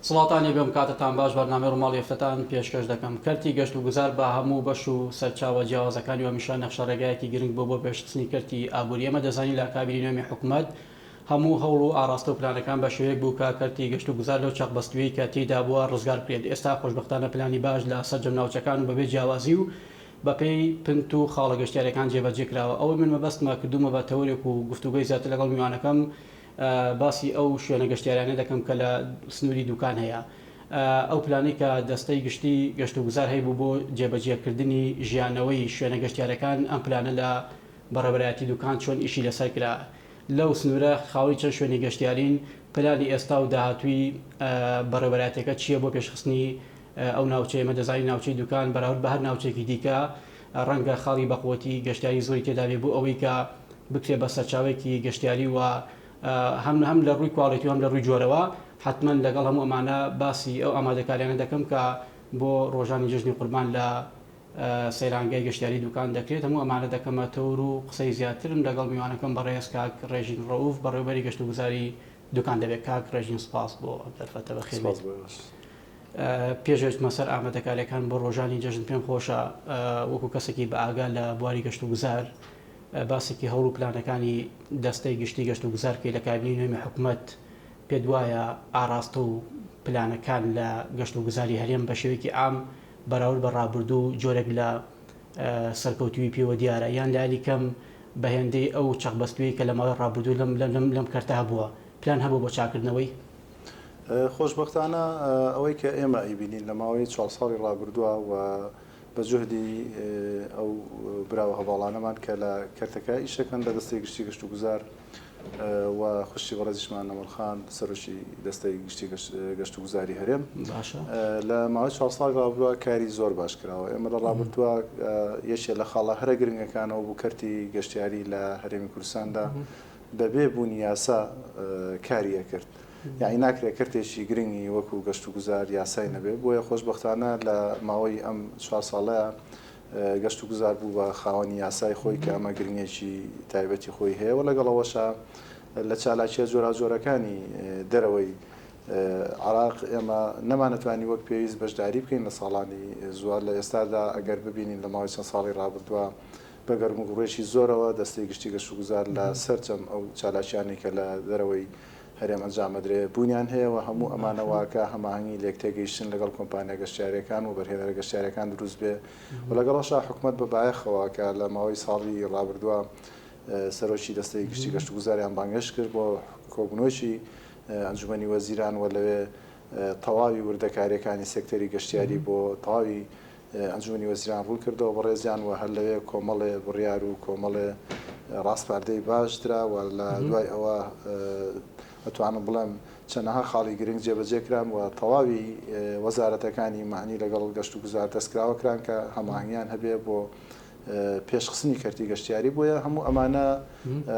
سڵاوتان لێ بێم کاتتان باش بەرنامەی ڕوماڵی هەفتەتان پێشکەش دەکەم کەرتی گەشت و گوزار بە هەموو بەش و سەرچاوە جیاوازەکانی و هەمیشە نەخشە ڕێگایەکی گرنگ بووە بۆ پێشخستنی کەرتی ئابووری ئێمە دەزانین لە ئەکابیری نوێمی حکومەت هەموو هەوڵ و ئاڕاستە و پلانەکان بە شێوەیەک بوو کە کەرتی گەشت و گوزار لەو چەق بەستوویەی کە تێیدا بووە ڕزگار بکرێت ئێستا خۆشبەختانە پلانی باش لە سەرجەم ناوچەکان و بەبێ جیاوازی و بەپێی پنت و خاڵە گەشتیارەکان جێبەجێ کراوە ئەوەی من مەبەستمە کردوومە بە تەوەرێک و گفتوگۆی زیاتر لەگەڵ میوانەکەم باسی ئەو شوێنە گەشتیاریانە دەکەم کە لە سنووری دووکان هەیە. ئەو پلانەی کە دەستەی گشتی گەشتوگوزار هەیبوو بۆ جێبەجێکردنی ژیانەوەی شوێنە گەشتیارەکان، ئەم پلانە لە بەڕێوەبەرایەتی دووکان چۆن ئیشی لەسەر کرا؟ لەو سنوورە خاوەنی چەند شوێنی گەشتیارین؟ پلانی ئێستا و داهاتووی بەڕێوەبەرایەتیەکە چییە بۆ پێشخستنی ئەو ناوچەیە؟ ئێمە دەزانین ناوچەی دووکان بەراورد بە هەر ناوچەیەکی دیکە ڕەنگە خاڵی بەقووەتی گەشتیاری زۆری تێدابێ بۆ ئەوەی کە بکرێ بە سەرچاوەیەکی گەشتیاری و هەم هەم لە ڕووی کواڵێتی و هەم لە ڕووی جۆرەوە حەتمەن لەگەڵ هەموو ئەمانە باسی ئەو ئامادەکاریانە دەکەم کە بۆ ڕۆژانی جەژنی قوربان لە سەیرانگەی گەشتیاری دوکان دەکرێت هەموو ئەمانە دەکەمە تەور و قسەی زیاترم لەگەڵ میوانەکەم بەڕێز کاک ڕێژین ڕەوف بەڕێوبەری گەشتوگوزاری دوکان دەبێت کاک ڕێژین سپاس بۆ ئەم دەرفەتە بە خێمەت پێشێتمە سەر ئامادەکاریەکان بۆ ڕۆژانی جەژن پێم خۆشە وەکو کەسێکی بە ئاگا لە بواری گەشت و گوزار باسێکی هەوڵ و پلانەکانی دەستەی گشتی گەشت و گوزارکەی لە کابینی نوێمی حکوومەت پێ دوایە ئاراستە و پلانەکان لە گەشت و گوزاری هەرێم بە شێوەیەکی ئام بەراورد بە ڕابردوو جۆرێک لە سەرکەوتوی پێوە دیارە یان لایلی کەم بە هێندەی ئەو چەقبەستوویەی کە لە ماوەی ڕابردوو لەم لەم لەم کەرتە هەبووە، پلان هەبوو بۆ چاککردنەوەی؟ خۆشبەختانە ئەوەی کە ئێمە ئەیبینین لە ماوەی چوار ساڵی ڕابردووە و بە جوهدی ئەو برا و هەڤاڵانەمان کە لە کەرتەکە ئیش ئەکەن لە دەستەی گشتی گەشتوگوزار، و خوشکی بەڕێزیشمان نەمر خان سەرۆکی دەستەی گشتی گەشت و گوزاری هەرێم لە ماوەی چوار ساڵ ڕابردووە کاری زۆر باش کراوە ئێمە لە ڕابردووە یەکێ لە خاڵە هەرە گرنگەکانەوە بوو کەرتی گەشتیاری لە هەرێمی کوردستاندا بەبێ بوونی یاسا کاریە کرد یعنی ناکرێت کەرتێکی گرنگی وەکو گەشت و گوزار یاسای نەبێت بۆیە خۆشببختانە لە ماوەی ئەم چوار ساڵەیە گەشتوگوزار بوو بە خاوەنی یاسای خۆی کە ئەمە گرنگێکی تایبەتی خۆی هەیە و لەگەڵ ئەوەشا لە چالاکیە جۆراوجۆرەکانی دەرەوەی عراق ئێمە نەمانەتوانی وەک پێویست بەشداری بکەین لە ساڵانی زووار لە ئێستادا ئەگەر ببینین لە ماوەی چەند ساڵی ڕابردووە بە گەرموگوڕێکی زۆرەوە دەستەی گشتی گەشتوگوزار لە سەرجەم ئەو چالاکیانی کە لە دەرەوەی هەرێم ئەنجامبدرێت بوونیان هەیە و هەموو ئەمانە واکا هەماهەنگی لێکتێگەیشتن لەگەڵ کۆمپانیا گەشتیاریەکان وبەرهێنەرە گەشتیاریەکان دروست بێ و لەگەڵەشا حکومەت بە بایەخەوە کە لە ماوەی ساڵی ڕابردووە سەرۆکی دەستەی گشتی گەشتوگوزاریان بانگهێشت کرد بۆ کۆبنۆکی ئەنجومەنی وەزیران و لەوێ تەواوی وردەکاریەکانی سێکتەری گەشتیاری بۆ تەواوی ئەنجومەنی وەزیران ڕوون کردەوە بەڕێزیان و هەر لەوێ کۆمەڵێ بڕیار و کۆمەڵێ ڕاسپاردەی باش درا و لە دوای ئەوە ئەتوانم بڵێم چەندەها خاڵی گرنگ جێبەجێ کران و تەواوی وەزارەتەکانی مەعنی لەگەڵ گەشت و گوزار دەستکراوە کران کە هەماهەنگیان هەبێ بۆ پێشخستنی کەرتی گەشتیاری بۆیە هەموو ئەمانە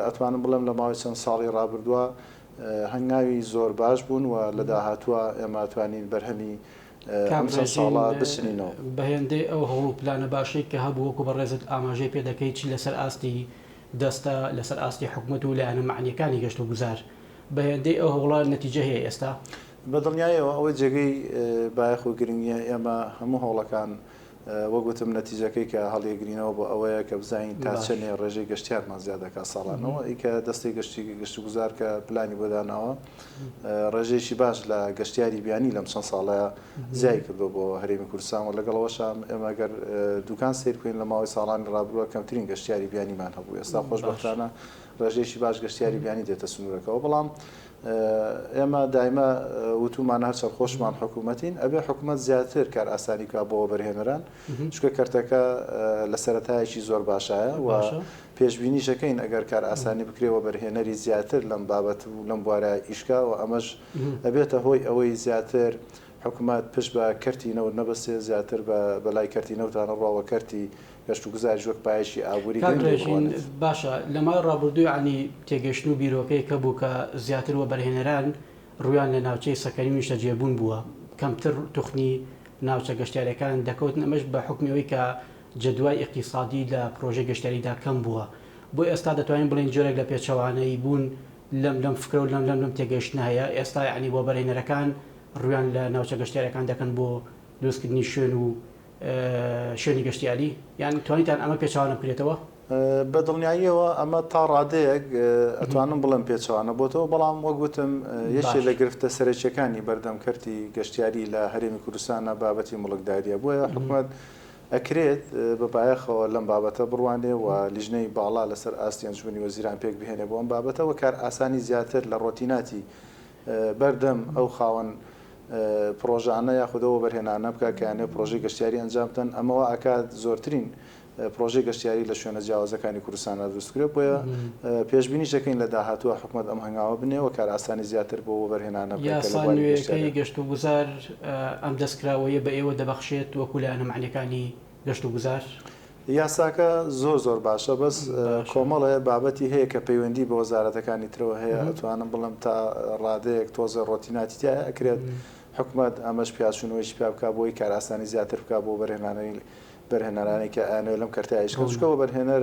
ئەتوانم بڵێم لە ماوەی چەند ساڵی ڕابردووە هەنگاوی زۆر باش بوون و لە داهاتووە ئێمە توانین بەرهەمی کاک ڕێزین بەهێندەی ئەو هەوڵ و پلانە باشەی کە هەبوو وەکو بەڕێزت ئاماژەی پێ دەکەی چ لەسەر ئاستی دەستە لەسەر ئاستی حکومەت و لایەنە مەعنیەکانی گەشت و گوزار بەهێندەی ئەو هەوڵە نەتیجە هەیە ئێستا؟ بەدڵنیایەوە ئەوە جێگەی بایەخ و گرنگیە ئێمە هەموو هەوڵەکان وەک وتم نەتیجەکەی کە هەڵیەگرینەوە بۆ ئەوەیە کە بزانین تا چەنێ ڕێژەی گەشتیارمان زیاد دەکات ساڵانەوە ی کە دەستی گەشتی گەشتوگوزار کە پلانی بۆ داناوە ڕێژەیەکی باش لە گەشتیاری بیانی لەم چەند ساڵە زیای کردو بۆ هەرێمی کوردستان و لەگەڵەوەشان ئێمە گەر دوکان سیر بکەین لە ماوەی ساڵانی ڕابروە کەمترین گەشتیاری بیانیمان هەبوو ئێستا خۆشبەختانە ڕێژەیەکی باش گەشتیاری بیانی دێتە سنوورەکەەوە بەڵام ئێمە دایمە وتومانە هەر سەرخۆشمان حکوومەتین ئەبێ حکوومەت زیاتر کار ئاسانی کا بۆ وەبەرهێنەران چکە کەرتەکە لە سەرەتایەکی زۆر باشایە و پێشببینیشەکەین ئەگەر کار ئاسانی بکرێ وەبەرهێنەری زیاتر لەم بابەت و لەم بوارە ئیشکا و ئەمەش ئەبێتە هۆی ئەوەی زیاتر حکومەت پشت بە کەرتی نەوت نەبەستێت، زیاتر بە بەلای کەرتی نەوتانە بڕوا و کەرتی گەشتوگوزاریش وەک پایەیەکی ئابووری کاک گرنگ لێ ڕێژین بڕوانێت. باشە لە ماوەی ڕابوردووی عەلی تێگەشتن و بیرۆکەی کە بوو کە زیاتر وەبەرهێنەران ڕوویان لە ناوچەی سەکەنی و نیشتەجێبوون بووە کەمتر توخنی ناوچە گەشتیارەکان دەکەوتن ئەمەش بە حوکمی ئەوەی کە جەدوای ئیقتیسادی لە پڕۆژەی گەشتیاریدا کەم بووە بۆ ئێستا دەتوانین بڵێین جۆرێک لە پێچەوانەیی بوون لەم لەم فکرە و لەم لەم لەم تێگەشتنە هەیە ئێستا یەعنی وەبەرهێنەرەکان ڕوویان لە ناوچە گەشتیاریەکان دەکەن بۆ دروستکردنی شوێن و شوێنی گەشتیاری؟ یان توانیتان ئەمە پێچەوانە بکرێتەوە؟ بە دڵنیاییەوە ئەمە تا ڕادەیەک ئەتوانم بڵێم پێچەوانە بۆتەوە، بەڵام وەک وتم یەکێ لە گرفتە سەرەکیەکانی بەردەم کەرتی گەشتیاری لە هەرێمی کوردستانە بابەتی موڵکداریە بۆیە حکومەت ئەکرێت بە بایەخەوە لەم بابەتە بڕوانێ و لیژنەی باڵا لەسەر ئاستی ئەنجومەنی وەزیران پێکبهێنێ بۆ ئەم بابەتە و کارئاسانی زیاتر لە ڕۆتیناتی بەردەم ئەو خاوەن پڕۆژانە یاخود ئەو وەبەرهێنانە بکا کە یانێ پڕۆژەی گەشتیاری ئەنجام بدەن، ئەمە وا ئەکات زۆرترین پڕۆژەی گەشتیاری لە شوێنە جیاوازەکانی کوردستانا دروست بکرێت، بۆیە پێشبینیش دەکەین لە داهاتووا حکومەت ئەم هەنگاوە بنێ و کارئاسانی زیاتر بۆ وەبەرهێنانە بکا کە لە یاسا بواری نوێیەکەی گەشتیاریدا. گەشتوگوزار ئەم دەستکراوەیە بە ئێوە دەبەخشێت وەکو لایەنە مەعنیەکانی گەشت و گوزار. یاساکە زۆر زۆر باشە بەس کۆمەڵێ بابەتی هەیە کە پەیوەندی بە وەزارەتەکانی ترەوە هەیە ئەتوانم بڵێم تا ڕادەیەک تۆزێ ڕۆتیناتی تیایە ئەکرێت حکومەت ئەمەش پیاچوونەوەیشی پیا بکا بۆی کارئاسانی زیاتر بکا بۆ بەرهێنانەری بەرهێنەرانی کە ئەیانەوێت لەم کەرتە ئیشکەن چکە وەبەرهێنەر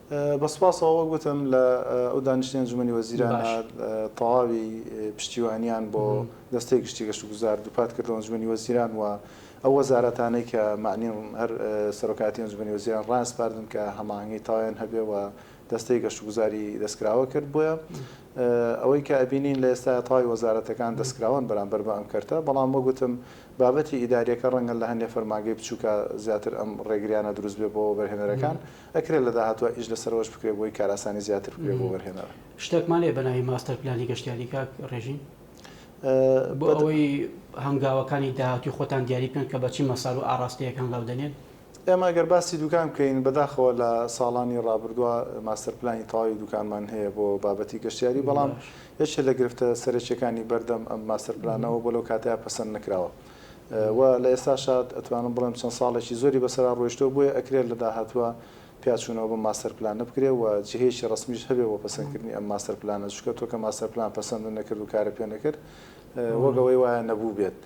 بە سوپاسەوە وەک وتم لە ئەو دانیشتنی ئەنجومەنی وەزیرانە تەواوی پشتیوانیان بۆ دەستەی گشتی گەشتوگوزار دووپات کردەوە ئەنجومەنی وەزیران و ئەو وەزارەتانەی کە مەعنیم هەر سەرۆکایەتی ئەنجومەنی وەزیران ڕایانسپاردن کە هەماهەنگی تەواویان هەبێ و دەستەی گەشتوگوزاری دەستکراوە کرد بۆیە ئەوەی کە ئەبینین لە ئێستایا تەواوی وەزارەتەکان دەستکراوەن بەرامبەر بە ئەم کەرتە بەڵام وەک وتم بابەتی ئیداریەکە ڕەنگە لە هەندێ فەرمانگەی بچووکە زیاتر ئەم ڕێگریانە دروست بێ بۆ وەبەرهێنەرەکان ئەکرێت لە داهاتوا ئیش لەسەرەوەش بکرێت بۆی کارئاسانی زیاتر بکرێت بۆ وەرهێنەر. شتەکمان هەیە بەناوی ماستەر پلانی گەشتیاری کاک ڕێژین؟ بۆ ئەوەی هەنگاوەکانی داهاتووی خۆتان دیاری بکەن کە بە چ مەسار و ئاڕاستەیەک هەنگاو دەنێن؟ ئێمە گەر باسی دوکان بکەین بەداخەوە لە ساڵانی ڕابردوا ماستەر پلانی تەواوی دوکانمان هەیە بۆ بابەتی گەشتیاری بەڵام یەکێ لە گرفتە سەرەکیەکانی بەردەم ئەم ماستەر پلانەوە بۆ لەو کاتەیا پەسەند نەکراوە. و لە ئێستاشا ئەتوانم بڵێم چەند ساڵێکی زۆری بەسەرا ڕۆیشتوە بۆیە ئەکرێ لە داهاتوە پیاچونەوە بەم ماستەر پلانە بکرێ و جهەیەکی ڕەسمیش هەبێ بۆ پەسەند کردنی ئەم ماستەر پلانە چونکە تۆ کە ماستەر پلان پەسەندت نەکرد و کارت پێ نەکرد وەک ئەوەی وایە نەبوبێت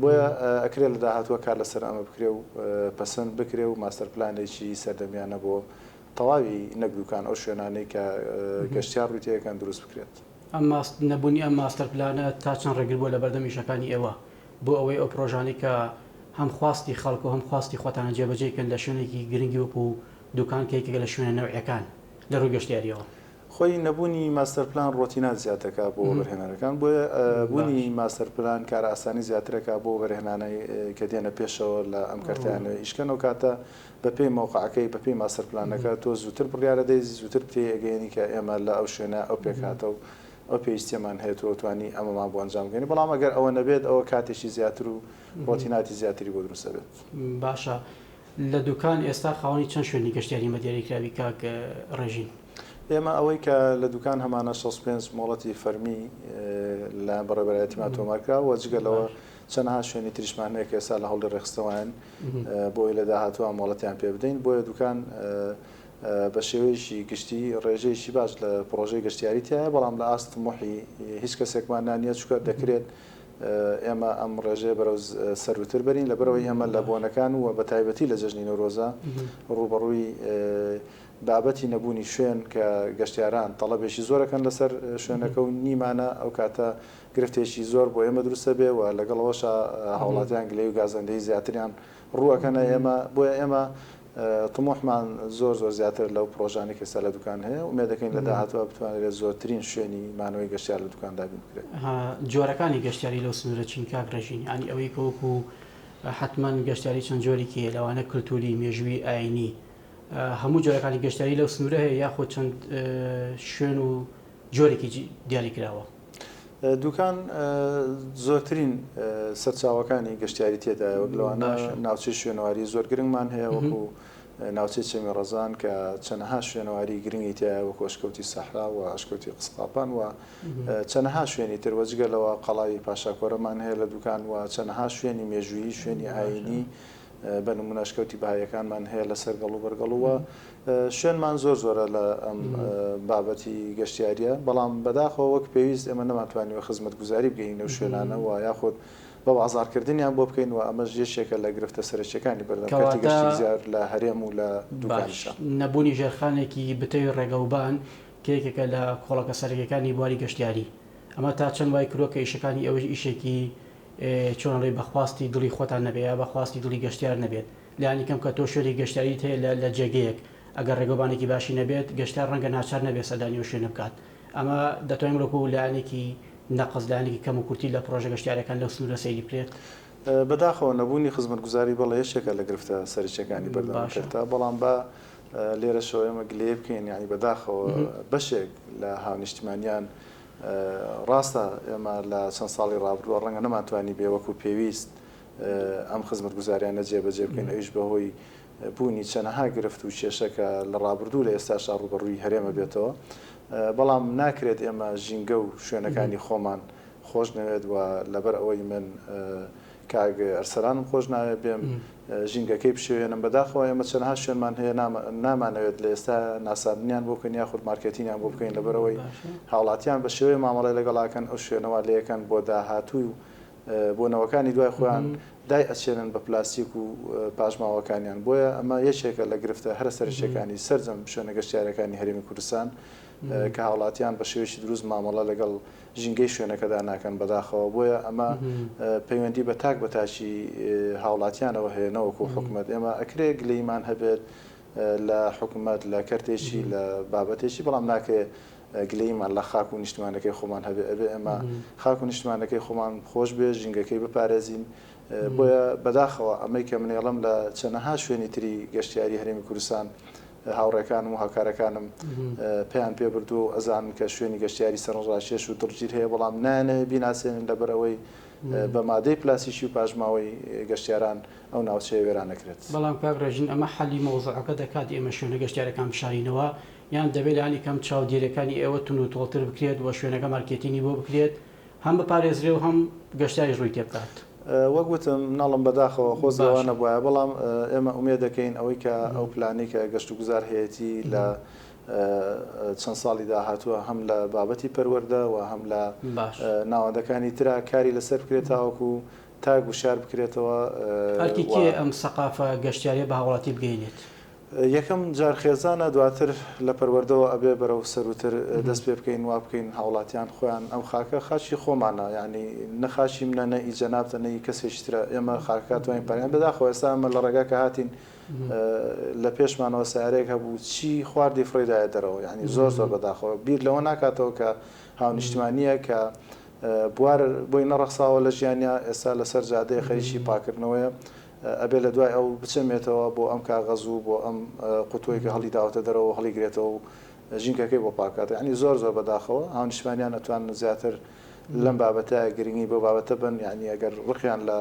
بۆیە ئەکرێ لە داهاتوە کار لەسەر ئەمە بکرێ و پەسەند بکرێ و ماستەر پلانێکی سەردەمیانە بۆ تەواوی نەک دوکان ئەو شوێنانەی کە گەشتیار ڕوی تێ ئەکەن دروست بکرێت. ئەم ماست نەبونی ئەم ماستەر پلانە تا چەند ڕێگر بوە لەبەردەم ئیشەکانی ئێوە بۆ ئەوەی ئەو پرۆژانەی کە هەم خواستی خەڵک و هەم خواستی خۆتانە جێبەجێی کەن لە شوێنێکی گرنگی وەکو دوکان کە یەکێکە لە شوێنە نەوعیەکان لە ڕوی گەشتیاریەوە؟ خۆی نەبونی ماستەر پلان ڕۆتینات زیاد دەکا بۆ وەبەرهێنەرەکان بۆیە بونی ماستەر پلان کارئاسانی زیاترەکا بۆ وەبەرهێنانەی کە دێنە پێشەوە لە ئەم کەرتەیان نوێ ئیشکەن ئەو کاتە بەپێی مەوقەعەکەی، بەپێی ماستەر پلانەکە، تۆ زووتر بڕیارە دەی، زووتر پێی ئەگەیەنی کە ئێمە لە ئەو شوێنە ئەو پێکهاتە و ئەو پێویستیەمان هەیە، تۆ توانی ئەمەمان بۆ ئەنجام گەیەنی، بەڵام ئەگەر ئەوە نەبێت ئەوە کاتێکی زیاتر و ڕۆتیناتی زیاتری بۆ دروست ئەبێت. باشە لە دوکان ئێستا خاوەنی چەند شوێنی گەشتیاری مە دیاری کراوی کاک ڕێژین؟ ئێمە ئەوەی کە لە دوکان هەمانە شەست و پێنج مۆڵەتی فەرمی لەلایەن بەڕێوەبەرایەتیمان تۆمار کراوە، جگە لەوە چەنەها شوێنی تریشمان هەیە کە ئێستا لە هەوڵی ڕێکخستنەوەین. بۆی لە داهاتووە مۆڵەتیان پێ بدەین، بۆیە دوکان بە شێوەیەکی گشتی ڕێژەیەکی باش لە پڕۆژەی گەشتیاری تیایە، بەڵام لە ئاست طموحی هیچ کەسێکمان نا نییە، چونکە دەکرێت ئێمە ئەم ڕێژەیە بەرەو سەرووتر بەرین، لەبەرئەوەی ئێمە لە بۆنەکان و بە تایبەتی لە جەژنی نەورۆزە ڕووبەڕووی بابەتی نەبوونی شوێن کە گەشتیاران تەڵەبێکی زۆر ئەکەن لەسەر شوێنەکە و نیمانە ئەو کاتە گرفتێکی زۆر بۆ ئێمە دروست ئەبێ و لەگەڵ ئەوەشا هاوڵاتیان گلەی و گازەندەی زیاتریان ڕوو ئەکەنە ئێمە، بۆیە ئێمە طموحمان زۆر زۆر زیاترە لەو پڕۆژانەی کە ئێستا لە دوکان هەیە، ئومێد دەکەین لە داهاتووا بتوانرێت زۆرترین شوێنی مانەوەی گەشتیار لە دوکان دابین بکرێت. جۆرەکانی گەشتیاری لەو سنوورە چین کاک ڕێژین؟ یانی ئەوەی کە وەکو حەتمەن گەشتیاری چەند جۆریکی هەیە لەوانە کلتووری، مێژووی، ئایینی هەموو جۆرەکانی گەشتیاری لەو سنوورە هەیە یاخود چەند شوێن و جۆرێکی دیاری کراوە؟ دوکان زۆرترین سەرچاوەکانی گەشتیاری تێدایە وەک لەوانە ناوچەی شوێنەواری زۆر گرنگمان هەیە وەکو ناوچەی چەمی ڕەزان کە چەنەها شوێنەواری گرنگی تایە وەکو ئەشکەوتی سەحرا و ئەشکەوتی قسقاپان و چەنەها شوێنی تر وەجگە لەوە قەڵاوی پاشاکۆرەمان هەیە لە دوکان و چەنەها شوێنی مێژووی شوێنی ئاینی بە نمونە ئەشکەوتی بەهاییەکانمان هەیە لەسەر گەڵ و بەرگەڵ و شوێنمان زۆر زۆرە لە ئەم بابەتی گەشتیاریە بەڵام بەداخەوە وەک پێویست ئێمە نەماتوانانی و خزمەت گوزاری بگەین و شوێنانەوە یاخود بە بازارکردنیان بۆ بکەین و ئەمەش یەکێکە لە گرفتە سەرەکیەکانی بەردەکەتی گەشتی زیار لە هەرێم و لە دوباش نەبوونی ژێرخانێکی بتەوی ڕێگەوبان کە یەکێکە لە کۆڵەکە سەرەکیەکانی بواری گەشتیاری ئەمە تا چەند وای کرۆکە ئیشەکانی ئەوەی ئیشێکی چۆن ئەڵێی بە خواستی دڵی خۆتان نەبێت یا بە خواستی دڵی گەشتیار نەبێت، لانی کەم کە تۆ شوێنێکی گەشتیاریت هەیە لە لە جێگەیەک ئەگەر ڕێگەوبانێکی باشی نەبێت گەشتیار ڕەنگە ناچار نەبێت سەردانی ئەو شوێنە بکات ئەمە دەتوانین بڵێ وەکو لایەنێکی نەقس لایەنێکی کەم و کورتی لە پڕۆژە گەشتیارەکان لەو سنورە سەیری بکرێت. بەداخەوە نەبوونی خزمەتگوزاری بەڵێ یەکێکە لە گرفتە سەرەکیەکانی بەردەم کەرتە بەڵام با لێرەشەوە ئێمە گلەیی بکەین یانی بەداخەوە بەشێک لە هاونیشتمانیان ڕاستە ئێمە لە چەند ساڵی ڕابردووە ڕەنگە نەمانتوانیبێ وەکوو پێویست ئەم خزمەتگوزارییانە جێبەجێ بکەین، ئەویش بەهۆی بوونی چەنەها گرفت و کێشە کە لە ڕابردوو لە ئێستاشدا ڕووبەڕووی هەرێمە بێتەوە، بەڵام ناکرێت ئێمە ژینگە و شوێنەکانی خۆمان خۆشنەوێت و لەبەر ئەوەی من کاک ئەرسەلانم خۆش ناوێ بێم ژینگەکەی بشێوێنم بەداخەوە ئێمە چەنەها شوێنمان هەیە نامانەوێت لە ئێستا ناساندنیان بۆ بکەین یاخود مارکێتینیان بۆ بکەین لەبەرەوەی هاوڵاتیان بە شێوەیە مامەڵی لەگەڵاکەن ئەو شوێنەوە لەکەن بۆ داهاتوو و بۆ نەوەکانی دوای خۆیان دای ئەچێنن بە پلاستیک و پاشماوەکانیان بۆیە ئەمە یەکێکە لە گرفتە هەرە سەرشەکانی سرجەم شوێنە گەشتارەکانی هەرمی کوردستان کە هاوڵاتیان بە شێوەیەکی دروست مامەڵە لەگەڵ ژینگەی شوێنەکەدا ناکەن بەداخەوە بۆیە ئەمە پەیوەندی بە تاک بە تاکی هاوڵاتیانەوە هەیە نەوەکو حکومەت ئێمە ئەکرێ گلەیمان هەبێت لە حکومەت لە کەرتێکی لە بابەتێکی بەڵام ناکرێ گلەیمان لە خاک و نیشتمانەکەی خۆمان هەبێ ئەبێ ئەمە خاک و نیشتمانەکەی خۆمان خۆش بێ ژینگەکەی بپارێزین بۆیە بەداخەوە ئەمەی کە منێڵم لە چەنەها شوێنی تری گەشتیاری هەرێمی کوردستان هاوڕێکانم و هاوکارەکانم پێیان پێبردووە و ئەزانن کە شوێنی گەشتیاری سەرنڕاکێش و دڵگیر هەیە، بەڵام نایانەوێت بیناسێنن لەبەر ئەوەی بە مادەی پلاسیکی و پاشماوەی گەشتیاران ئەو ناوچەیە وێران ئەکرێت. بەڵام کاک ڕێژین ئەمە حەلی مەوزوعەکە دەکات ئێمە شوێنە گەشتیارەکان بشارینەوە یان دەبێت لانی کەم چاودێریەکانی ئێوە توندوتۆڵتر بکرێت و شوێنەکە مارکێتینی بۆ بکرێت؟ هەم بپارێزرێ و هەم گەشتیاریش ڕووی تێبکات. وەک وتم مناڵم بەداخەوە خۆزگە وا باشە. نەبوایە بەڵام ئێمە ئومێد دەکەین ئەوەی کە ئەو پلانەی کە گەشتوگوزار هەیەتی لە چەند ساڵی داهاتووە هەم لە بابەتی پەروەردە و هەم لە باش. ناوەندەکانی ترا کاری لەسەر بکرێت تاوەکو تاک وشار بکرێتەوە ئەرکی و کێیە ئەم سەقافە گەشتیاریە بە هاوڵاتی بگەینێت؟ یەکەم جار خێزانە دواتر لە پەروەردەوە ئەبێ بەرەو سەرووتر دەست پێ بکەین وا بکەین هاوڵاتیان خۆیان ئەم خاکە خاکی خۆمانە یانی نە خاکی منە نە ئی جەنابتە نە ئی کەسێکی ترە ئێمە خاکەکە توانین پەرەیان بەداخەوە ئێستا ئەمە لە ڕێگا کە هاتین لە پێشمانەوە سەیارەیەک هەبوو چی خواردی فڕێی دایە دەرەوە یانی زۆر زۆر بەداخەوە بیر لەوە ناکاتەوە کە هاونیشتمانییە کە بوار بۆی نەڕەخساوە لە ژیانیا ئێستا لەسەر جادەیە خەریکی پاکردنەوەیە ئەبێ لە دوای ئەو بچەمێتەوە بۆ ئەم کاغەز و بۆ ئەم قوتوەی کە هەڵی داوەتە دەرەوەو هەڵی گرێتەوەو ژینکەکەی بۆ پاک کاتەوە یانی زۆر زۆر بە داخەوە هاونیشتمانیان ئەتوانن زیاتر لەم بابەتە گرنگی بەو بابەتە بەن یانی ئەگەر ڕقیان لە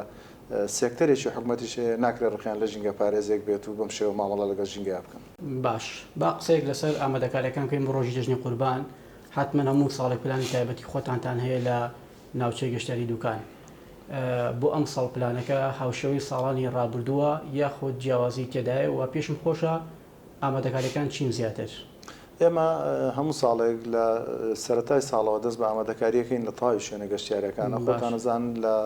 سێکتەرێکی حکومەتیش هەیە ناکرێ ڕقیان لە ژینگە پارێزێک بێت و بەم شێوە مامەڵە لەگەڵ ژینگەیا بکەن. باش با قسەیەک لەسەر ئامادەکاریەکان بکەین بۆ ڕۆژی جەژنی قوربان حەتمەن هەموو ساڵێک پلانی تایبەتی خۆتانتان هەیە لە ناوچەی گەشتیاری دوکان بۆ ئەمساڵ پلانەکە هاوشێوەی ساڵانی ڕابردووە یاخود جیاوازی تێدایە و پێشم خۆشە ئامادەکاریەکان چین زیاتر؟ ئێمە هەموو ساڵێک لە سەرەتای ساڵەوە دەست بە ئامادەکاریەکەین لە تەواوی شوێنە گەشتیارەکانە خۆتان ئەزان لە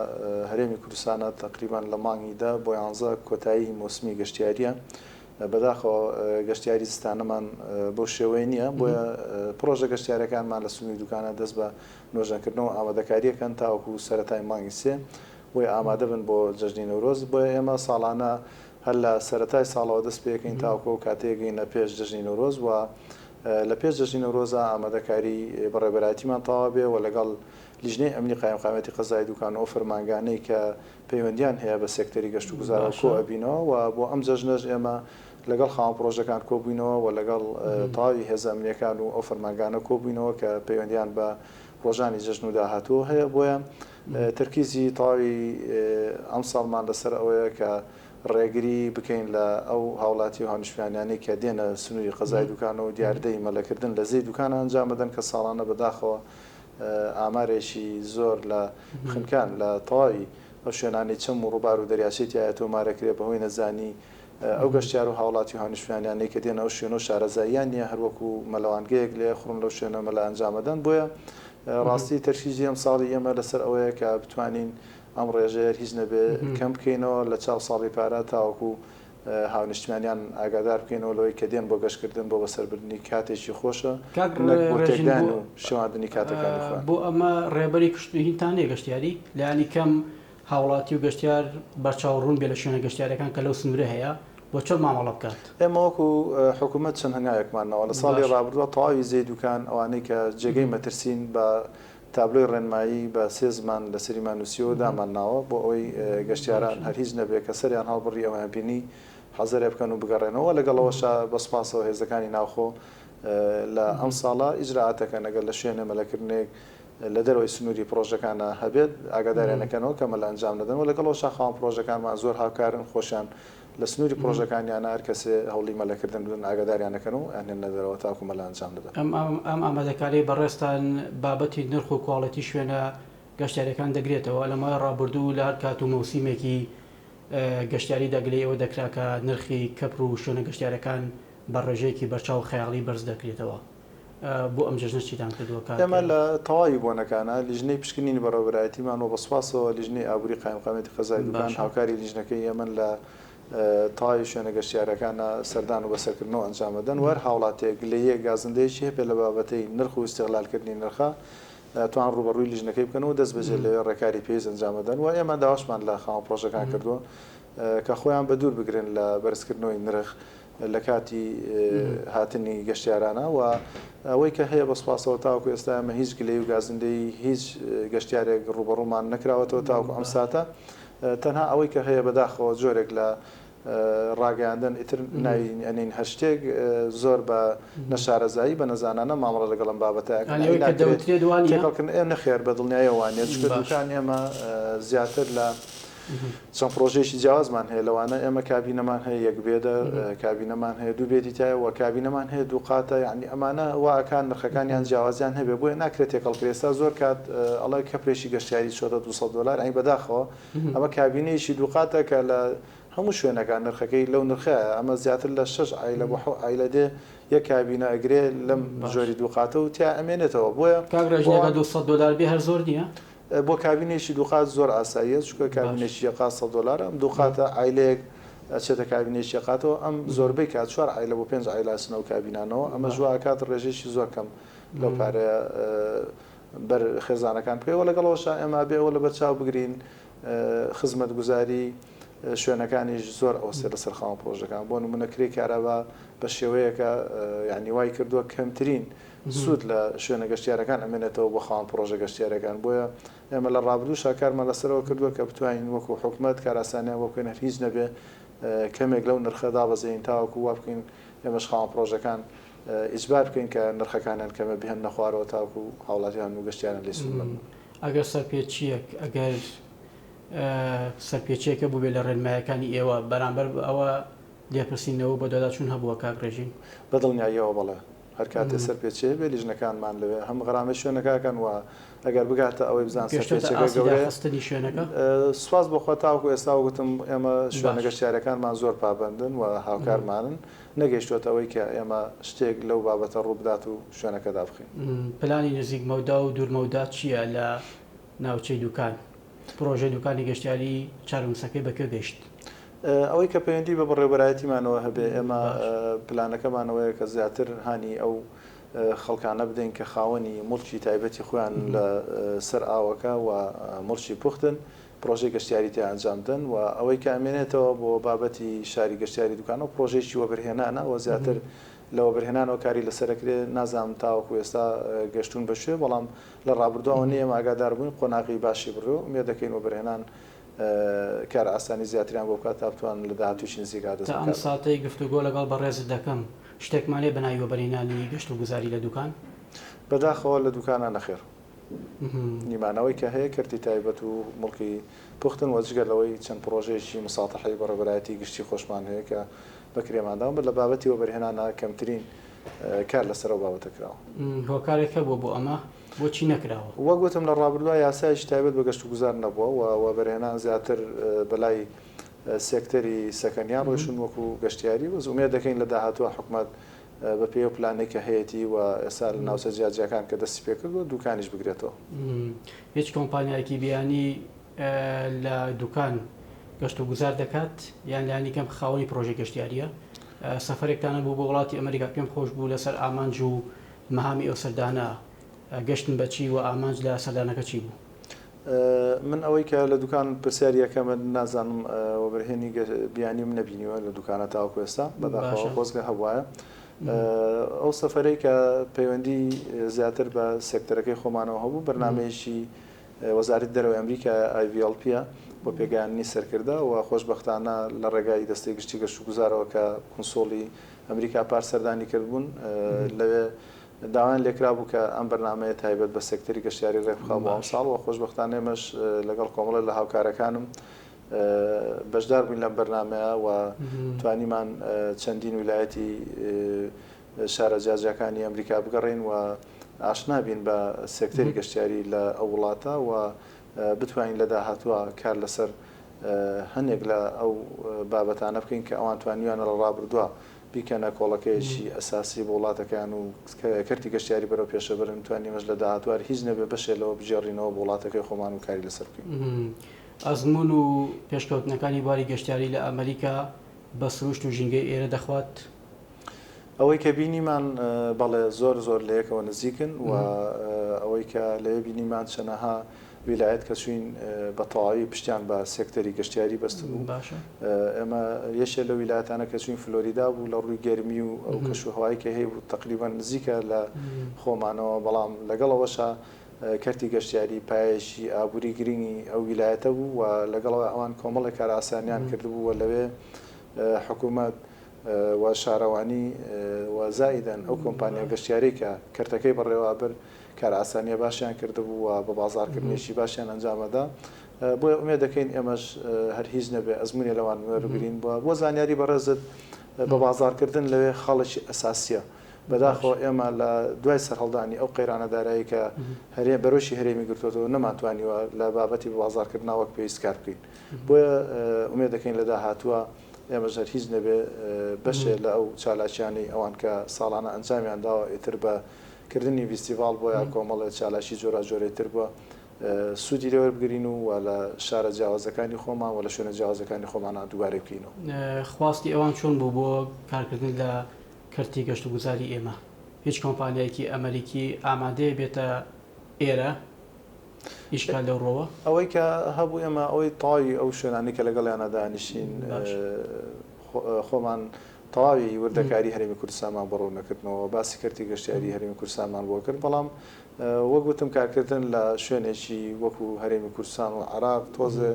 هەرێمی کوردستانە تەقریبەن لە مانگی دە بۆ یانزە کۆتایی مۆسمی گەشتیاریە بەداخەوە گەشتیاری زستانەمان بەو شێوەیە نییە بۆیە پرۆژە گەشتیارەکانمان لە سنووری دوکانە دەست بە نۆژەنکردنەوە ئامادەکارییەکەن تاوەکو سەرەتای مانگی سێ بۆی ئامادە بن بۆ جەژنی نەورۆز، بۆیە ئێمە ساڵانە هەر لە سەرەتای ساڵەوە دەست پێکەین تاوەکو ئەو کاتەی گەینە پێش جەژنی نەورۆز و لە پێش جەژنی نەورۆزا ئامادەکاری بەڕێوەبەرایەتیمان تەواو بێ و لەگەڵ لیژنەی ئەمنی قایمقامیەتی قەزای دوکان و ئەو فەرمانگانەی کە پەیوەندیان هەیە بە سێکتەری گەشتوگوزارەوە کۆ ئەبینەوە و بۆ ئەم جەژنەش ئێمە لەگەڵ خاوەن پڕۆژەکان کۆبووینەوە و لەگەڵ تەواوی هێزە ئەمنییەکان و ئەو فەرمانگانە کۆبووینەوە کە پەیوەندییان بە ڕۆژانی جەژن و داهاتوو هەیە، بۆیە تەرکیزی تەواوی ئەمساڵمان لەسەر ئەوەیە کە ڕێگری بکەین لە ئەو هاوڵاتی و هاونیشتمانیانەی کە دێنە سنووری قەزای دوکانە و دیاردەی مەلەکردن لە زێی دوکانە ئەنجام بدەن کە ساڵانە بەداخەوە ئامارێکی زۆر لە خنکان لە تەواوی ئەو شوێنانەی چەم و ڕووبار و دەریاچەی تیایە تۆمارەکرێ بەهۆی نەزانی ئەو گەشتیار و هاوڵاتی و هانیشتمانیانەی کە دێن ئەو شوێنە و شارەزاییان نییە هەروەکو مەلەوانگەیەک لێ ئەخڕن لەو شوێنە مەلا ئەنجام ئەدەن بۆیە ڕاستی تەرکیزی ئەم ساڵی ئێمە لەسەر ئەوەیە کە بتوانین ئەم ڕێژەیە هیچ نەبێ کەم بکەینەوە لە چاو ساڵی پارە تاوەکو هاونیشتمانیان ئاگادار بکەینەوە لەوەی کە دێن بۆ گەشتکردن بۆ بەسەربردننی کاتێکی خۆشە بۆتێکدان و شواندنی کاتەکانی خۆیان بۆ ئەمە ڕێبەری کشتنی هینتانێ گەشتیاری لانی کەم هاوڵاتی و گەشتیار بەرچاو ڕوون بێت لە شوێنە گەشتیارەکان کە لەو سنوورە هەیە و چۆن مامەڵە بکات. ئێمە وەکو حکومەت چەند هەنگاوێکمان ناوە لە ساڵی ڕابردووە تەواوی زێی دووکان ئەوانەی کە جێگەی مەترسین بە تابلۆی ڕێنمایی بە سێ زمان لەسەریمان نووسیوە و دامان ناوە بۆ ئەوەی گەشتیاران هەر هیچ نەبێت کە سەریان هەڵبڕی ئەویان بینی حەزەرێ بکەن و بگەڕێنەوە وە لەگەڵ ئەوەشا بە سوپاسەوە هێزەکانی ناوخۆ لە ئەمساڵە ئیجرائاتەکەن ئەگەر لە شوێنێ مەلەکردنێک لە دەرەوەی سنووری پڕۆژەکان هەبێت، ئاگاداریان ئەکەنەوە کە مەل ئەنجام نەدەن و لەگەڵ ئەوەشا خاوەن پڕۆژەکانمان زۆر هاوکارن، خۆشیان لە سنووری پڕۆژەکانیانە هەر کەسێ هەوڵی مەلەکردن بدەن ئاگاداریان ئەکەن و ئەیانهێننە دەرەوە تاوەکو مەل ئەنجام دەدەن. ئەم ئامادەکارییەی بەڕێزتان بابەتی نرخ و کواڵێتی شوێنە گەشتیارییەکان دەگرێتەوە، لە ماوەی ڕابردوو لە هەر کات و مەوسیمێکی گەشتیاریدا گلەی ئەوە دەکرا کە نرخی کەپر و شوێنە گەشتیارییەکان بە ڕێژەیەکی بەرچاو خەیاڵی بەرز دەکرێتەوە، بۆ ئەم جەژنە چیتان کردووە کاک؟ ئێمە لە تەواوی بۆنەکانە لیژنەی پشکنینی بەڕێوەبەرایەتیمان و بە سوپاسەوە لیژنەی ئابووری قایمقامیەتی قەزای دوکان هاوکاری لیژنەکەی ئێمەن لە تەواوی شوێنە گەشتیارەکانە سەردان و بەسەرکردنەوە ئەنجام ئەدەن و هەر هاوڵاتیەک گلەییەک گازندەیەکی هەبێت لە بابەتەی نرخ و ئیستیغلالکردنی نرخە توان ڕووبەڕووی لیژنەکەی بکەن و دەستبەجێ لەوێ ڕێکاری پێویست ئەنجام ئەدەن و ئێمە داواشمان لە خاوەن پڕۆژەکان کردووە کە خۆیان بە دوور بگرن لە بەرزکردنەوەی نرخ لە کاتی هاتنی گەشتیارانە و ئەوەی کە هەیە بە سوپاسەوە تاوەکو ئێستا ئێمە هیچ گلەیی و گازندەی هیچ گەشتیارێک ڕووبەڕوومان نەکراوەتەوە تاوەکو ئەم ساتە تەنها ئەوەی کە هەیە بەداخەوە جۆرێک لە ڕاگەیاندن ئیتر ناوی ئەنین هەر شتێک زۆر بە نەشارەزایی بە نەزانانە مامەڵە لەگەڵ ئەم بابەتە ئەکەن ئەوەی کە دەوترێت وانیە؟ تێکەڵکردن ئێ نەخێر بە دڵنیایەوە وانیە چونکە دووکانی ئێمە زیاتر لە چەند پڕۆژەیەکی جیاوازمان هەیە لەوانە ئێمە کابینەمان هەیە یەک بێدە، کابینەمان هەیە دوو بێدی تایە و کابینەمان هەیە دوو قاتە یانی ئەمانە وا ئەکا نرخەکانیان جیاوازیان هەبێ بۆیە ناکرێ تێکەڵ کرێ ئێستا زۆر کات ئەڵێ کەپرێکی گەشتیاری چۆتە دوو سەد دۆلار ئەی بەداخەوە ئەمە کابینەیەکی دوو قاتە کە لە هەموو شوێنەکان نرخەکەی لەو نرخە ئەمە زیاتر لە شەش عایلە بۆ حەو عایلە دێ یەک کابینە ئەگرێ لەم ژۆری دوو قاتە و تیا ئەمێنێتەوە بۆیە کاک ڕێژ ئەگە دوو سەد دۆلار بێ هەر زۆر نییە؟ بۆ کابینەیەکی دووقات زۆر ئاساییە چونکە کابینەیەکی یەک قات سەد دۆلارە ئەم دوو قاتە عایلەیەک ئەچێتە کابینەیەکی یەک قاتەوە ئەم زۆربەی کات چوار عایلە بۆ پێنج عایلە ئەچنە ئەو کابینانەوە ئەمەش وا ئەکات ڕێژەیەکی زۆر کەم لەو پارەیە بەر خێزانەکان بکەوێت وە لەگەڵ ئەوەشا ئێمە ئەبێ ئەوە لەبەر چاو بگرین خزمەتگوزاری شوێنەکانیش زۆر ئەوسێ لەسەر خاوەن پڕۆژەکان بۆ نموونە کرێی کارابا بە شێوەیەکە یانی وای کردووە کەمترین سوود لە شوێنە گەشتیارەکان ئەمێنێتەوە بۆ خاوەن پڕۆژە گەشتیارییەکان، بۆیە ئێمە لە ڕابردووشا کارمان لەسەرەوە کردووە کە بتوانین وەکو حکومەت کارئاسانیان بۆ بکەین هەر هیچ نەبێ کەمێک لەو نرخە دابەزێین تاوەکو وا بکەین ئێمەش خاوەن پڕۆژەکان ئیجبار بکەین کە نرخەکانیان کەمێ بهێننە خوارەوە تاوەکو هاوڵاتیان و گەشتیاران لێ سوود بەرن. ئەگەر سەرپێچییەک ئەگەر سەرپێچییەک هەبووبێ لە ڕێنماییەکانی ئێوە بەرامبەر بە ئەوە لێپرسینەوە بۆ داداچوون هەبووە کاک ڕێژیم؟ بە دڵنیاییەوە بەڵێ. هەر کاتێ سەرپێچییە بێ لیژنەکانمان لەوێ هەم غەرامەی شوێنەکە ئەکەن و ئەگەر بگاتە ئەوەی بزان سەرپێچییەکە گەورەیە سوپاس بۆ خوا تاوەکو ئێستا وەک وتم ئێمە شوێنە گەشتیارەکانمان زۆر پابەندن و هاوکارمانن نەگەیشتووەتە ئەوەی کە ئێمە شتێک لەو بابەتە ڕوو بدات و شوێنەکە دابخەین. پلانی نزیک مەودا و دوور مەودا چییە لە ناوچەی دوکان؟ پرۆژەی دوکانی گەشتیاری چارەنوسەکەی بە کوێ گەیشت؟ ئەوەی کە پەیوەندی بە بەڕێوەبەرایەتیمانەوە هەبێ، ئێمە پلانەکەمان ئەوەیە کە زیاتر هانی ئەو خەڵکانە بدەین کە خاوەنی موڵکی تایبەتی خۆیان لە سەر ئاوەکە و موڵکی پوختن، پرۆژەی گەشتیاری تێ ئەنجام بدەن و ئەوەی کە ئەمێنێتەوە بۆ بابەتی شاری گەشتیاری دوکان ئەو پرۆژەیەکی وەبەرهێنانە و زیاتر لە وەبەرهێنانەوە کاری لەسەر ئەکرێ، نازانم تاوەکو ئێستا گەشتوون بە کوێ، بەڵام. لە ڕابردووەوە نێم ئاگادار بووین قۆناغی باشی بڕێ و ئومێد دەکەین وەبەرهێنان کارئاسانی زیاتریان بۆ بکات تا بتوانن لە داهاتوویشی نزیک ئادەست بکات. تا ئەم ساتەی گفتوگۆ لەگەڵ بەڕێزت دەکەم شتێکمان هەیە بە ناوی وەبەرهێنانی گەشت و گوزاری لە دوکان؟ بە داخەوە لە دوکانە نەخێر. نیمان ئەوەی کە هەیە کەرتی تایبەت و موڵکی پوختن وە جگە لەوەی چەند پڕۆژەیەکی مساتەحەی بە ڕێبەرایەتی گشتی خۆشمان هەیە کە بە کرێمان داون بە لە بابەتی وەبەرهێنانە کەمترین کار لەسەر ئەو بابەتە کراوە. هۆکارێک هەبووە بۆ ئەمە؟ بۆچی نەکراوە؟ وەک وتم لە ڕابردووە یاسایەکی تایبەت بە گەشتوگوزار نەبووە و وەبەرهێنان زیاتر بەلای سێکتەری سەکەنیان ڕۆیشتوون وەکو گەشتیاری، بەس ئومێد دەکەین لە داهاتووە حکومەت بەپێی ئەو پلانەی کە هەیەتی و ئێستا لە ناوچە جیاجیاکان کە دەستی پێکردووە دووکانیش بگرێتەوە. هیچ کۆمپانیایەکی بیانی لە دوکان گەشت و گوزار دەکات یان لانی کەم خاوەنی پرۆژە گەشتیاریە سەفرێکتانە بوو بۆ وڵاتی ئەمریکا پێم خۆش بوو لەسەر ئامانج و مەهامی ئەو سەردانە گەشتن بەچی و ئامانج لە سەردانەکە چی بوو؟ من ئەوەی کە لە دوکان پرسیاری یەکەمە نازانم وەبەرهێنی بیانیم نەبینیوە لە دوکانە تاوەکو ئێستا بەداخەوە خۆزگە هەبواە ئەو سەفرەی کە پەیوەندی زیاتر بە سێکتەرەکەی خۆمانەوە هەبوو بەرنمەیەکی وەزارەتی دەرەوەی ئەمریکا ئایڤیڵپیە بۆ پێگەیاندنی سەرکردە و خۆشبەختانە لە ڕێگای دەستەی گشتی گەشتوگوزارەوە کە کونسوڵی ئەمریکا پار سەردانی کردبوون لەوێ داوایان لێکرابوو کە ئەم بەرنامەیە تایبەت بە سێکتەری گەشتیاری ڕێکبخا بۆ ئەمساڵ و خۆشبەختانە ئێمەش لەگەڵ کۆمەڵێک لە هاوکارەکانم بەشدار بووین لەم بەرنامەیە و توانیمان چەندین ویلایەتی شارە جیاجیاکانی ئەمریکا بگەڕێین و ئاشنا بین بە سێکتەری گەشتیاری لە ئەو وڵاتە و بتوانین لە داهاتووە کار لەسەر هەندێک لە ئەو بابەتانە بکەین کە ئەوان توانیویانە لە ڕابردووە بیکەنە کۆڵەکەیەکی ئەساسی بۆ وڵاتەکەیان و کەرتی گەشتیاری بەرەو پێشە بەرن، بتوانین ئێمەش لە داهاتووە هەر هیچ نەبێت بەشێ لەوە بگێڕینەوە بۆ وڵاتەکەی خۆمان و کاری لەسەر بکەین. ئەزموون و پێشکەوتنەکانی بواری گەشتیاری لە ئەمریکا بە سروشت و ژینگەی ئێرە دەخوات؟ ئەوەی کە بینیمان بەڵێ زۆر زۆر لە یەکەوە نزیکن و ئەوەی کە لەوێ بینیمان چەنەها ویلایەت کە چوین بە تەواوی پشتیان بە سێکتەری گەشتیاری بەستبوو باشە ئێمە یەکێ لە ویلایەتانە کە چوین فلۆریدا بوو لە ڕووی گەرمی و ئەو کەش و هەوای کە هەیبوو تقریبا نزیکە لە خۆمانەوە بەڵام لەگەڵ ئەوەشا کەرتی گەشتیاری پایەیەکی ئابووری گرنگی ئەو ویلایەتە بوو و لەگەڵەوە ئەوان کۆمەڵێک کارئاسانیان کردبوو و لەوێ حکوومەت و شارەوانی و زائیدەن ئەو کۆمپانیا گەشتیارەی کە کەرتەکەی بەڕێوابرد کارئاسانیە باشیان کردبوو و بە بازاڕ کردنێکی باشیان ئەنجام ئەدا بۆیە ئومێد دەکەین ئێمەش هەر هیچ نەبێ ئەزمونێ لەوان وەربگرین بوە بۆ زانیاری بەڕێزت بە بازاڕ کردن لەوێ خاڵێکی ئەساسیە بەداخەوە ئێمە لە دوای سەرهەڵدانی ئەو قەیرانە دارایی کە هەرێم بەرۆکی هەرێمی گرتۆتەوە نەمان توانیوە لە بابەتی بە بازاڕ کردنا وەک پێویست کار بکەین بۆیە ئومێد دەکەین لە داهاتوە ئێمەش هەر هیچ نەبێ بەشێ لە ئەو چالاکیانەی ئەوان کە ساڵانە ئەنجامیان داوە ئیتر بە کردنی ڤیستیڤاڵ بۆ یا کۆمەڵێ چالاکی جۆراجۆرەی تر بووە سوودی لێ وەربگرین و وە لە شارە جیاوازەکانی خۆمان وە لە شوێنە جیاوازەکانی خۆمانا دووبارەی بکەینەوە. خواستی ئەوان چۆن بوو بۆ کارکردن لە کەرتی گەشتوگوزاری ئێمە؟ هیچ کۆمپانیایەکی ئەمەریکی ئامادەیە بێتە ئێرە؟ ئیشکال لەو ڕوەوە؟ ئەوەی کە هەبوو ئێمە ئەوەی تەواوی ئەو شوێنانەی کە لەگەڵیانا دانیشتین خۆمان تەواوی وردەکاری هەرێمی کوردستانمان بۆ ڕوون نەکردنەوە و باسی کەرتی گەشتیاری هەرێمی کوردستانمان بۆ کرد، بەڵام وەک وتم کارکردن لە شوێنێکی وەکو هەرێمی کوردستان و عێراق تۆزێ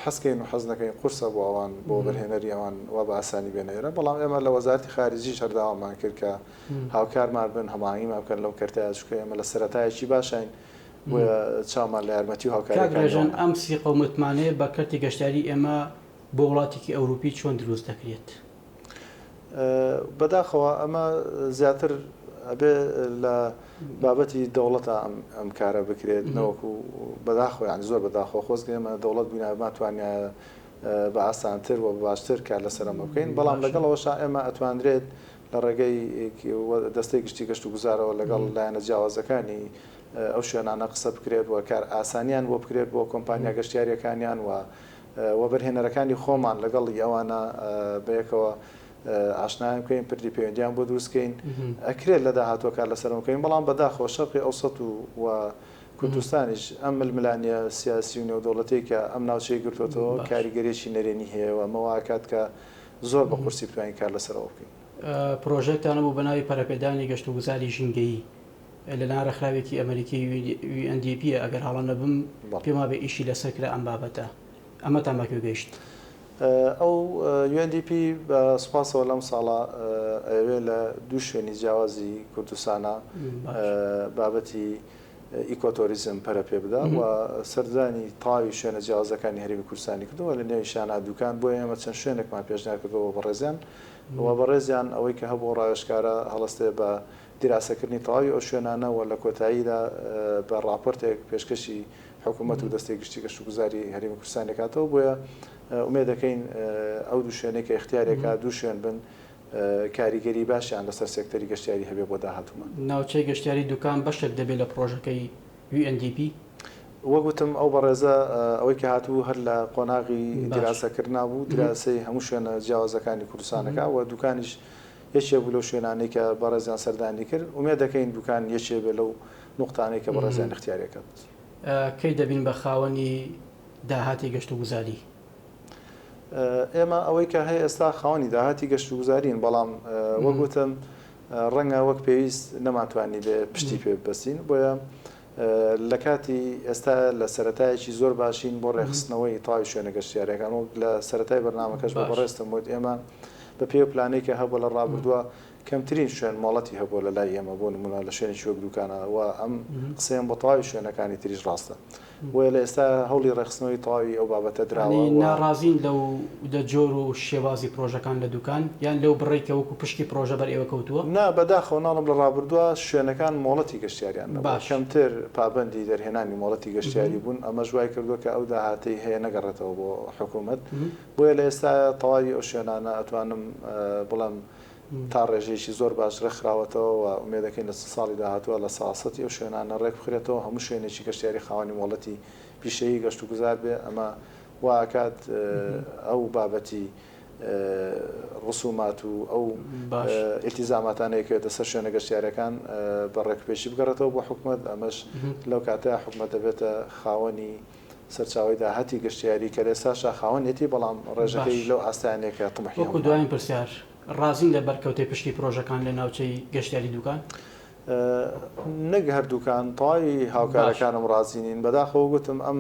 حەزکەین و حەز نەکەین قورسە بۆ ئەوان بۆ وەبەرهێنەری ئەوان وا بە ئاسانی بێنە ئێرە، بەڵام ئێمە لە وەزارەتی خارجیش هەر داوامان کرد کە هاوکارمان بن، هەماهەنگیمان بکەن لەو کەرتەیە، چونکە ئێمە لە سەرەتایەکی باشاین، بۆیە چاومان لە یارمەتی و هاوکارییەکانی ئەوانە. کاک ڕێژەن، ئەم سی قەومە متمانەیە بە کەرتی گەشتیاریی ئێمە بۆ وڵاتێکی ئەوروپی چۆن دروست دەکرێت؟ بەداخەوە ئەمە زیاتر ئەبێ لە بابەتی دەوڵەتا ئەم کارە بکرێت، نەوەکو بەداخەوە یانی زۆر بەداخەوە خۆزگە ئێمە دەوڵەت بووینایە بمانتوانیایە بە ئاسانتر و بە باشتر کار لەسەر ئەمە بکەین، بەڵام لەگەڵ ئەوەشا ئێمە ئەتوانرێت لە ڕێگەی دەستەی گشتی گەشتوگوزارەوە لەگەڵ لایەنە جیاوازەکانی ئەو شوێنانە قسە بکرێت و کارئاسانیان بۆ بکرێت بۆ کۆمپانیا گەشتیارییەکانیان و وەبەرهێنەرەکانی خۆمان لەگەڵ ئەوانە بەیەکەوە ئاشنایان بکەین پردی پەیوەندییان بۆ دروست بکەین ئەکرێت لە داهاتووە کار لەسەرەوە بکەین بەڵام بەداخەوە شەرقی ئەوسەت و کوردستانیش ئەم ململانێ سیاسی و نێودەوڵەتیەی کە ئەم ناوچەی گرتۆتەوە کاریگەریی نەرێنی هەیە و ئەمە وایکات کە زۆر بە قورسی بتوانین کار لەسەرەوە بکەین. پرۆژەیەکتان هەبوو بە ناوی پەرەپێدانی گەشتوگوزاری ژینگەیی لە لایەن ڕێکخراوێکی ئەمەریکی UNDP ە ئەگەر هەڵە نەبم پێم وابێ ئیشی لەسەر کرا ئەم بابەتە ئەمەتان بە کوێ گەیشت؟ ئەو UNDP بە سوپاسەوە لەم ساڵە ئەیەوێ لە دوو شوێنی جیاوازی کوردستانا بابەتی ئیکۆتۆریزم پەرە پێ بدا و سەردانی تەواوی شوێنە جیاوازەکانی هەرێمی کوردستانی کردووە لە نێویشیان ئادووکان بۆیە ئێمە چەند شوێنێکمان پێشنیار کردووە بۆ بەڕێزیان و بەڕێزیان ئەوەی کە هەبوو ڕاوێژکارە هەڵەستێ بە دیراسەکردنی تەواوی ئەو شوێنانە و لە کۆتاییدا بە ڕاپۆرتێک پێشکەشی حکوومەت و دەستەی گشتی گەشتوگوزاری هەرێمی کوردستان دەکاتەوە بۆیە ئومێدەکەین ئەو دوو شوێنەی کە ئیختیاریەکە دوو شوێن بن کاریگەری باشیان لەسەر سێکتەری گەشتیاری هەبێ بۆ داهاتوومان. ناوچەی گەشتیاری دوکان بەشێک دەبێت لە پڕۆژەکەی UNDP؟ وەک وتم ئەو بەڕێزە ئەوەی کە هاتبوو هەر لە قۆناغی دیراسەکردنا بوو، دیراسەی هەموو شوێنە جیاوازەکانی کوردستان دەکا و دوکانیش یەکێک بوو لەو شوێنانەی کە بەڕێزیان سەردانی کرد، ئومێد دەکەین دوکان یەکێک بێت لەو نوقتانەی کە بەڕێزیان ئیختیاریان کرد. کەی دەبین بە خاوەنی داهاتی گەشتوگوزاری؟ ئێمە ئەوەی کە هەیە ئێستا خاوەنی داهاتی گەشتوگوزارین، بەڵام وەک وتم ڕەنگە وەک پێویست نەمانتوانیبێ پشتی پێ ببەستین، بۆیە لە کاتی ئێستا لە سەرەتایەکی زۆر باشین بۆ ڕێکخستنەوەی تەواوی شوێنە گەشتیارییەکان، وەک لە سەرەتای بەرنامەکەشدا بەڕێزتم وت ئێمە بەپێی ئەو پلانەی کە هەبووە لە ڕابردووە، کەمترین شوێن مۆڵەتی هەبووە لە لای ئێمە بۆ نموونە لە شوێنێکی وەک دووکانە و ئەم قسەیەم بۆ تەواوی شوێنەکانی تریش ڕاستە بۆیە لە ئێستا هەوڵی ڕێکخستنەوەی تەواوی ئەو بابەتە دراوە یانی و ناڕازین لەو دە جۆر و شێوازی پڕۆژەکان لە دووکان یان لەو بڕەی کە وەکوو پشکی پڕۆژە بەر ئێوە کەوتووە؟ نا بەداخەوە ناڵێم لە ڕابردووە شوێنەکان مۆڵەتی گەشتیاریان نەبووە باش. کەمتر پابەندی دەرهێنانی مۆڵەتی گەشتیاری بوون ئەمەش وای کردووە کە ئەو داهاتەی هەیە نەگەڕێتەوە بۆ حکوومەت بۆیە لە ئێستا تەواوی ئەو شوێنانە ئەتوانم بڵێم تا ڕێژەیەکی زۆر باش ڕێکخراوەتەوە و ئومێدەکەین لە چل ساڵی داهاتووە لە ساسەتی ئەو شوێنانە ڕێکبخرێتەوە و هەموو شوێنێکی گەشتیاری خاوەنی مۆڵەتی پیشەیی گەشتوگوزار بێ، ئەمە وا ئەکات ئەو بابەتی ڕسومات و ئەو ئیلتیزاماتانەی ئەکەوێتە سەر شوێنە گەشتیارەکان بە ڕێکوپێکی بگەڕێتەوە بۆ حکومەت، ئەمەش لەو کاتەیە حکومەت دەبێتە خاوەنی. سەرچاوەی داهاتی گەشتیاری کەلێساشا خاوەنێتی، بەڵام ڕێژەکەی لەو ئاستەیان نیە کە طموحیان بووە. دوایین پرسیار، ڕازین لە بەرکەوتەی پشتی پرۆژەکان لە ناوچەی گەشتیاری دوکان؟ نەک هەر دوکان، تەواوی هاوکارەکانم ڕازی نین، بەداخەوە گوتم ئەم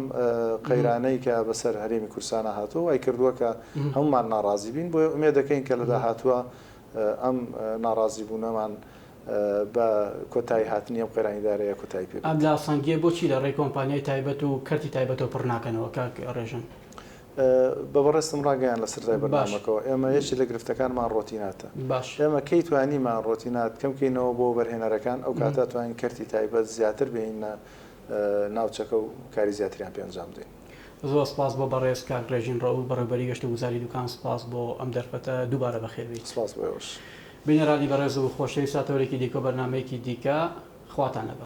قەیرانەی کە بەسەر هەرێمی کوردستانا هاتووە وای کردووە کە هەموومان ناڕازی بین، بۆیە ئومێدەکەین کە لە داهاتووە ئەم ناڕازیبوونەمان بە کۆتاییهاتنی ئەم قەیرانی داراییە کۆتایی پێ بێت. ئەم لاسەنگییە بۆچی لە ڕێی کۆمپانیای تایبەت و کەرتی تایبەتەوە پڕ ناکەنەوە، کاک ڕێژەن؟ بە بەڕێزتم ڕاگەیاند لە سەرەتای بەرنامەکەوە، ئێمە یەکێک لە گرفتەکانمان ڕۆتیناتە. ئێمە کەی توانیمان ڕۆتینات کەم کەینەوە بۆ وەبەرهێنەرەکان، ئەو کاتە توانین کەرتی تایبەت زیاتر بهێینە ناوچەکە و کاری زیاتریان پێ ئەنجام بدەین. زۆر سپاس بۆ بەڕێز کاک ڕێژین ڕەئوف بەڕێوبەری گەشتە گوزاری دوکان سپاس بۆ ئەم دەرفەتە دووبارە بەخێر بێیت. سپاس بۆ ئێوەش. بینەرانی بەڕێز و خۆشەویست تا تەوەرێکی دیکە و بەرنامەیەکی دیکە خواتان لەگەڵ.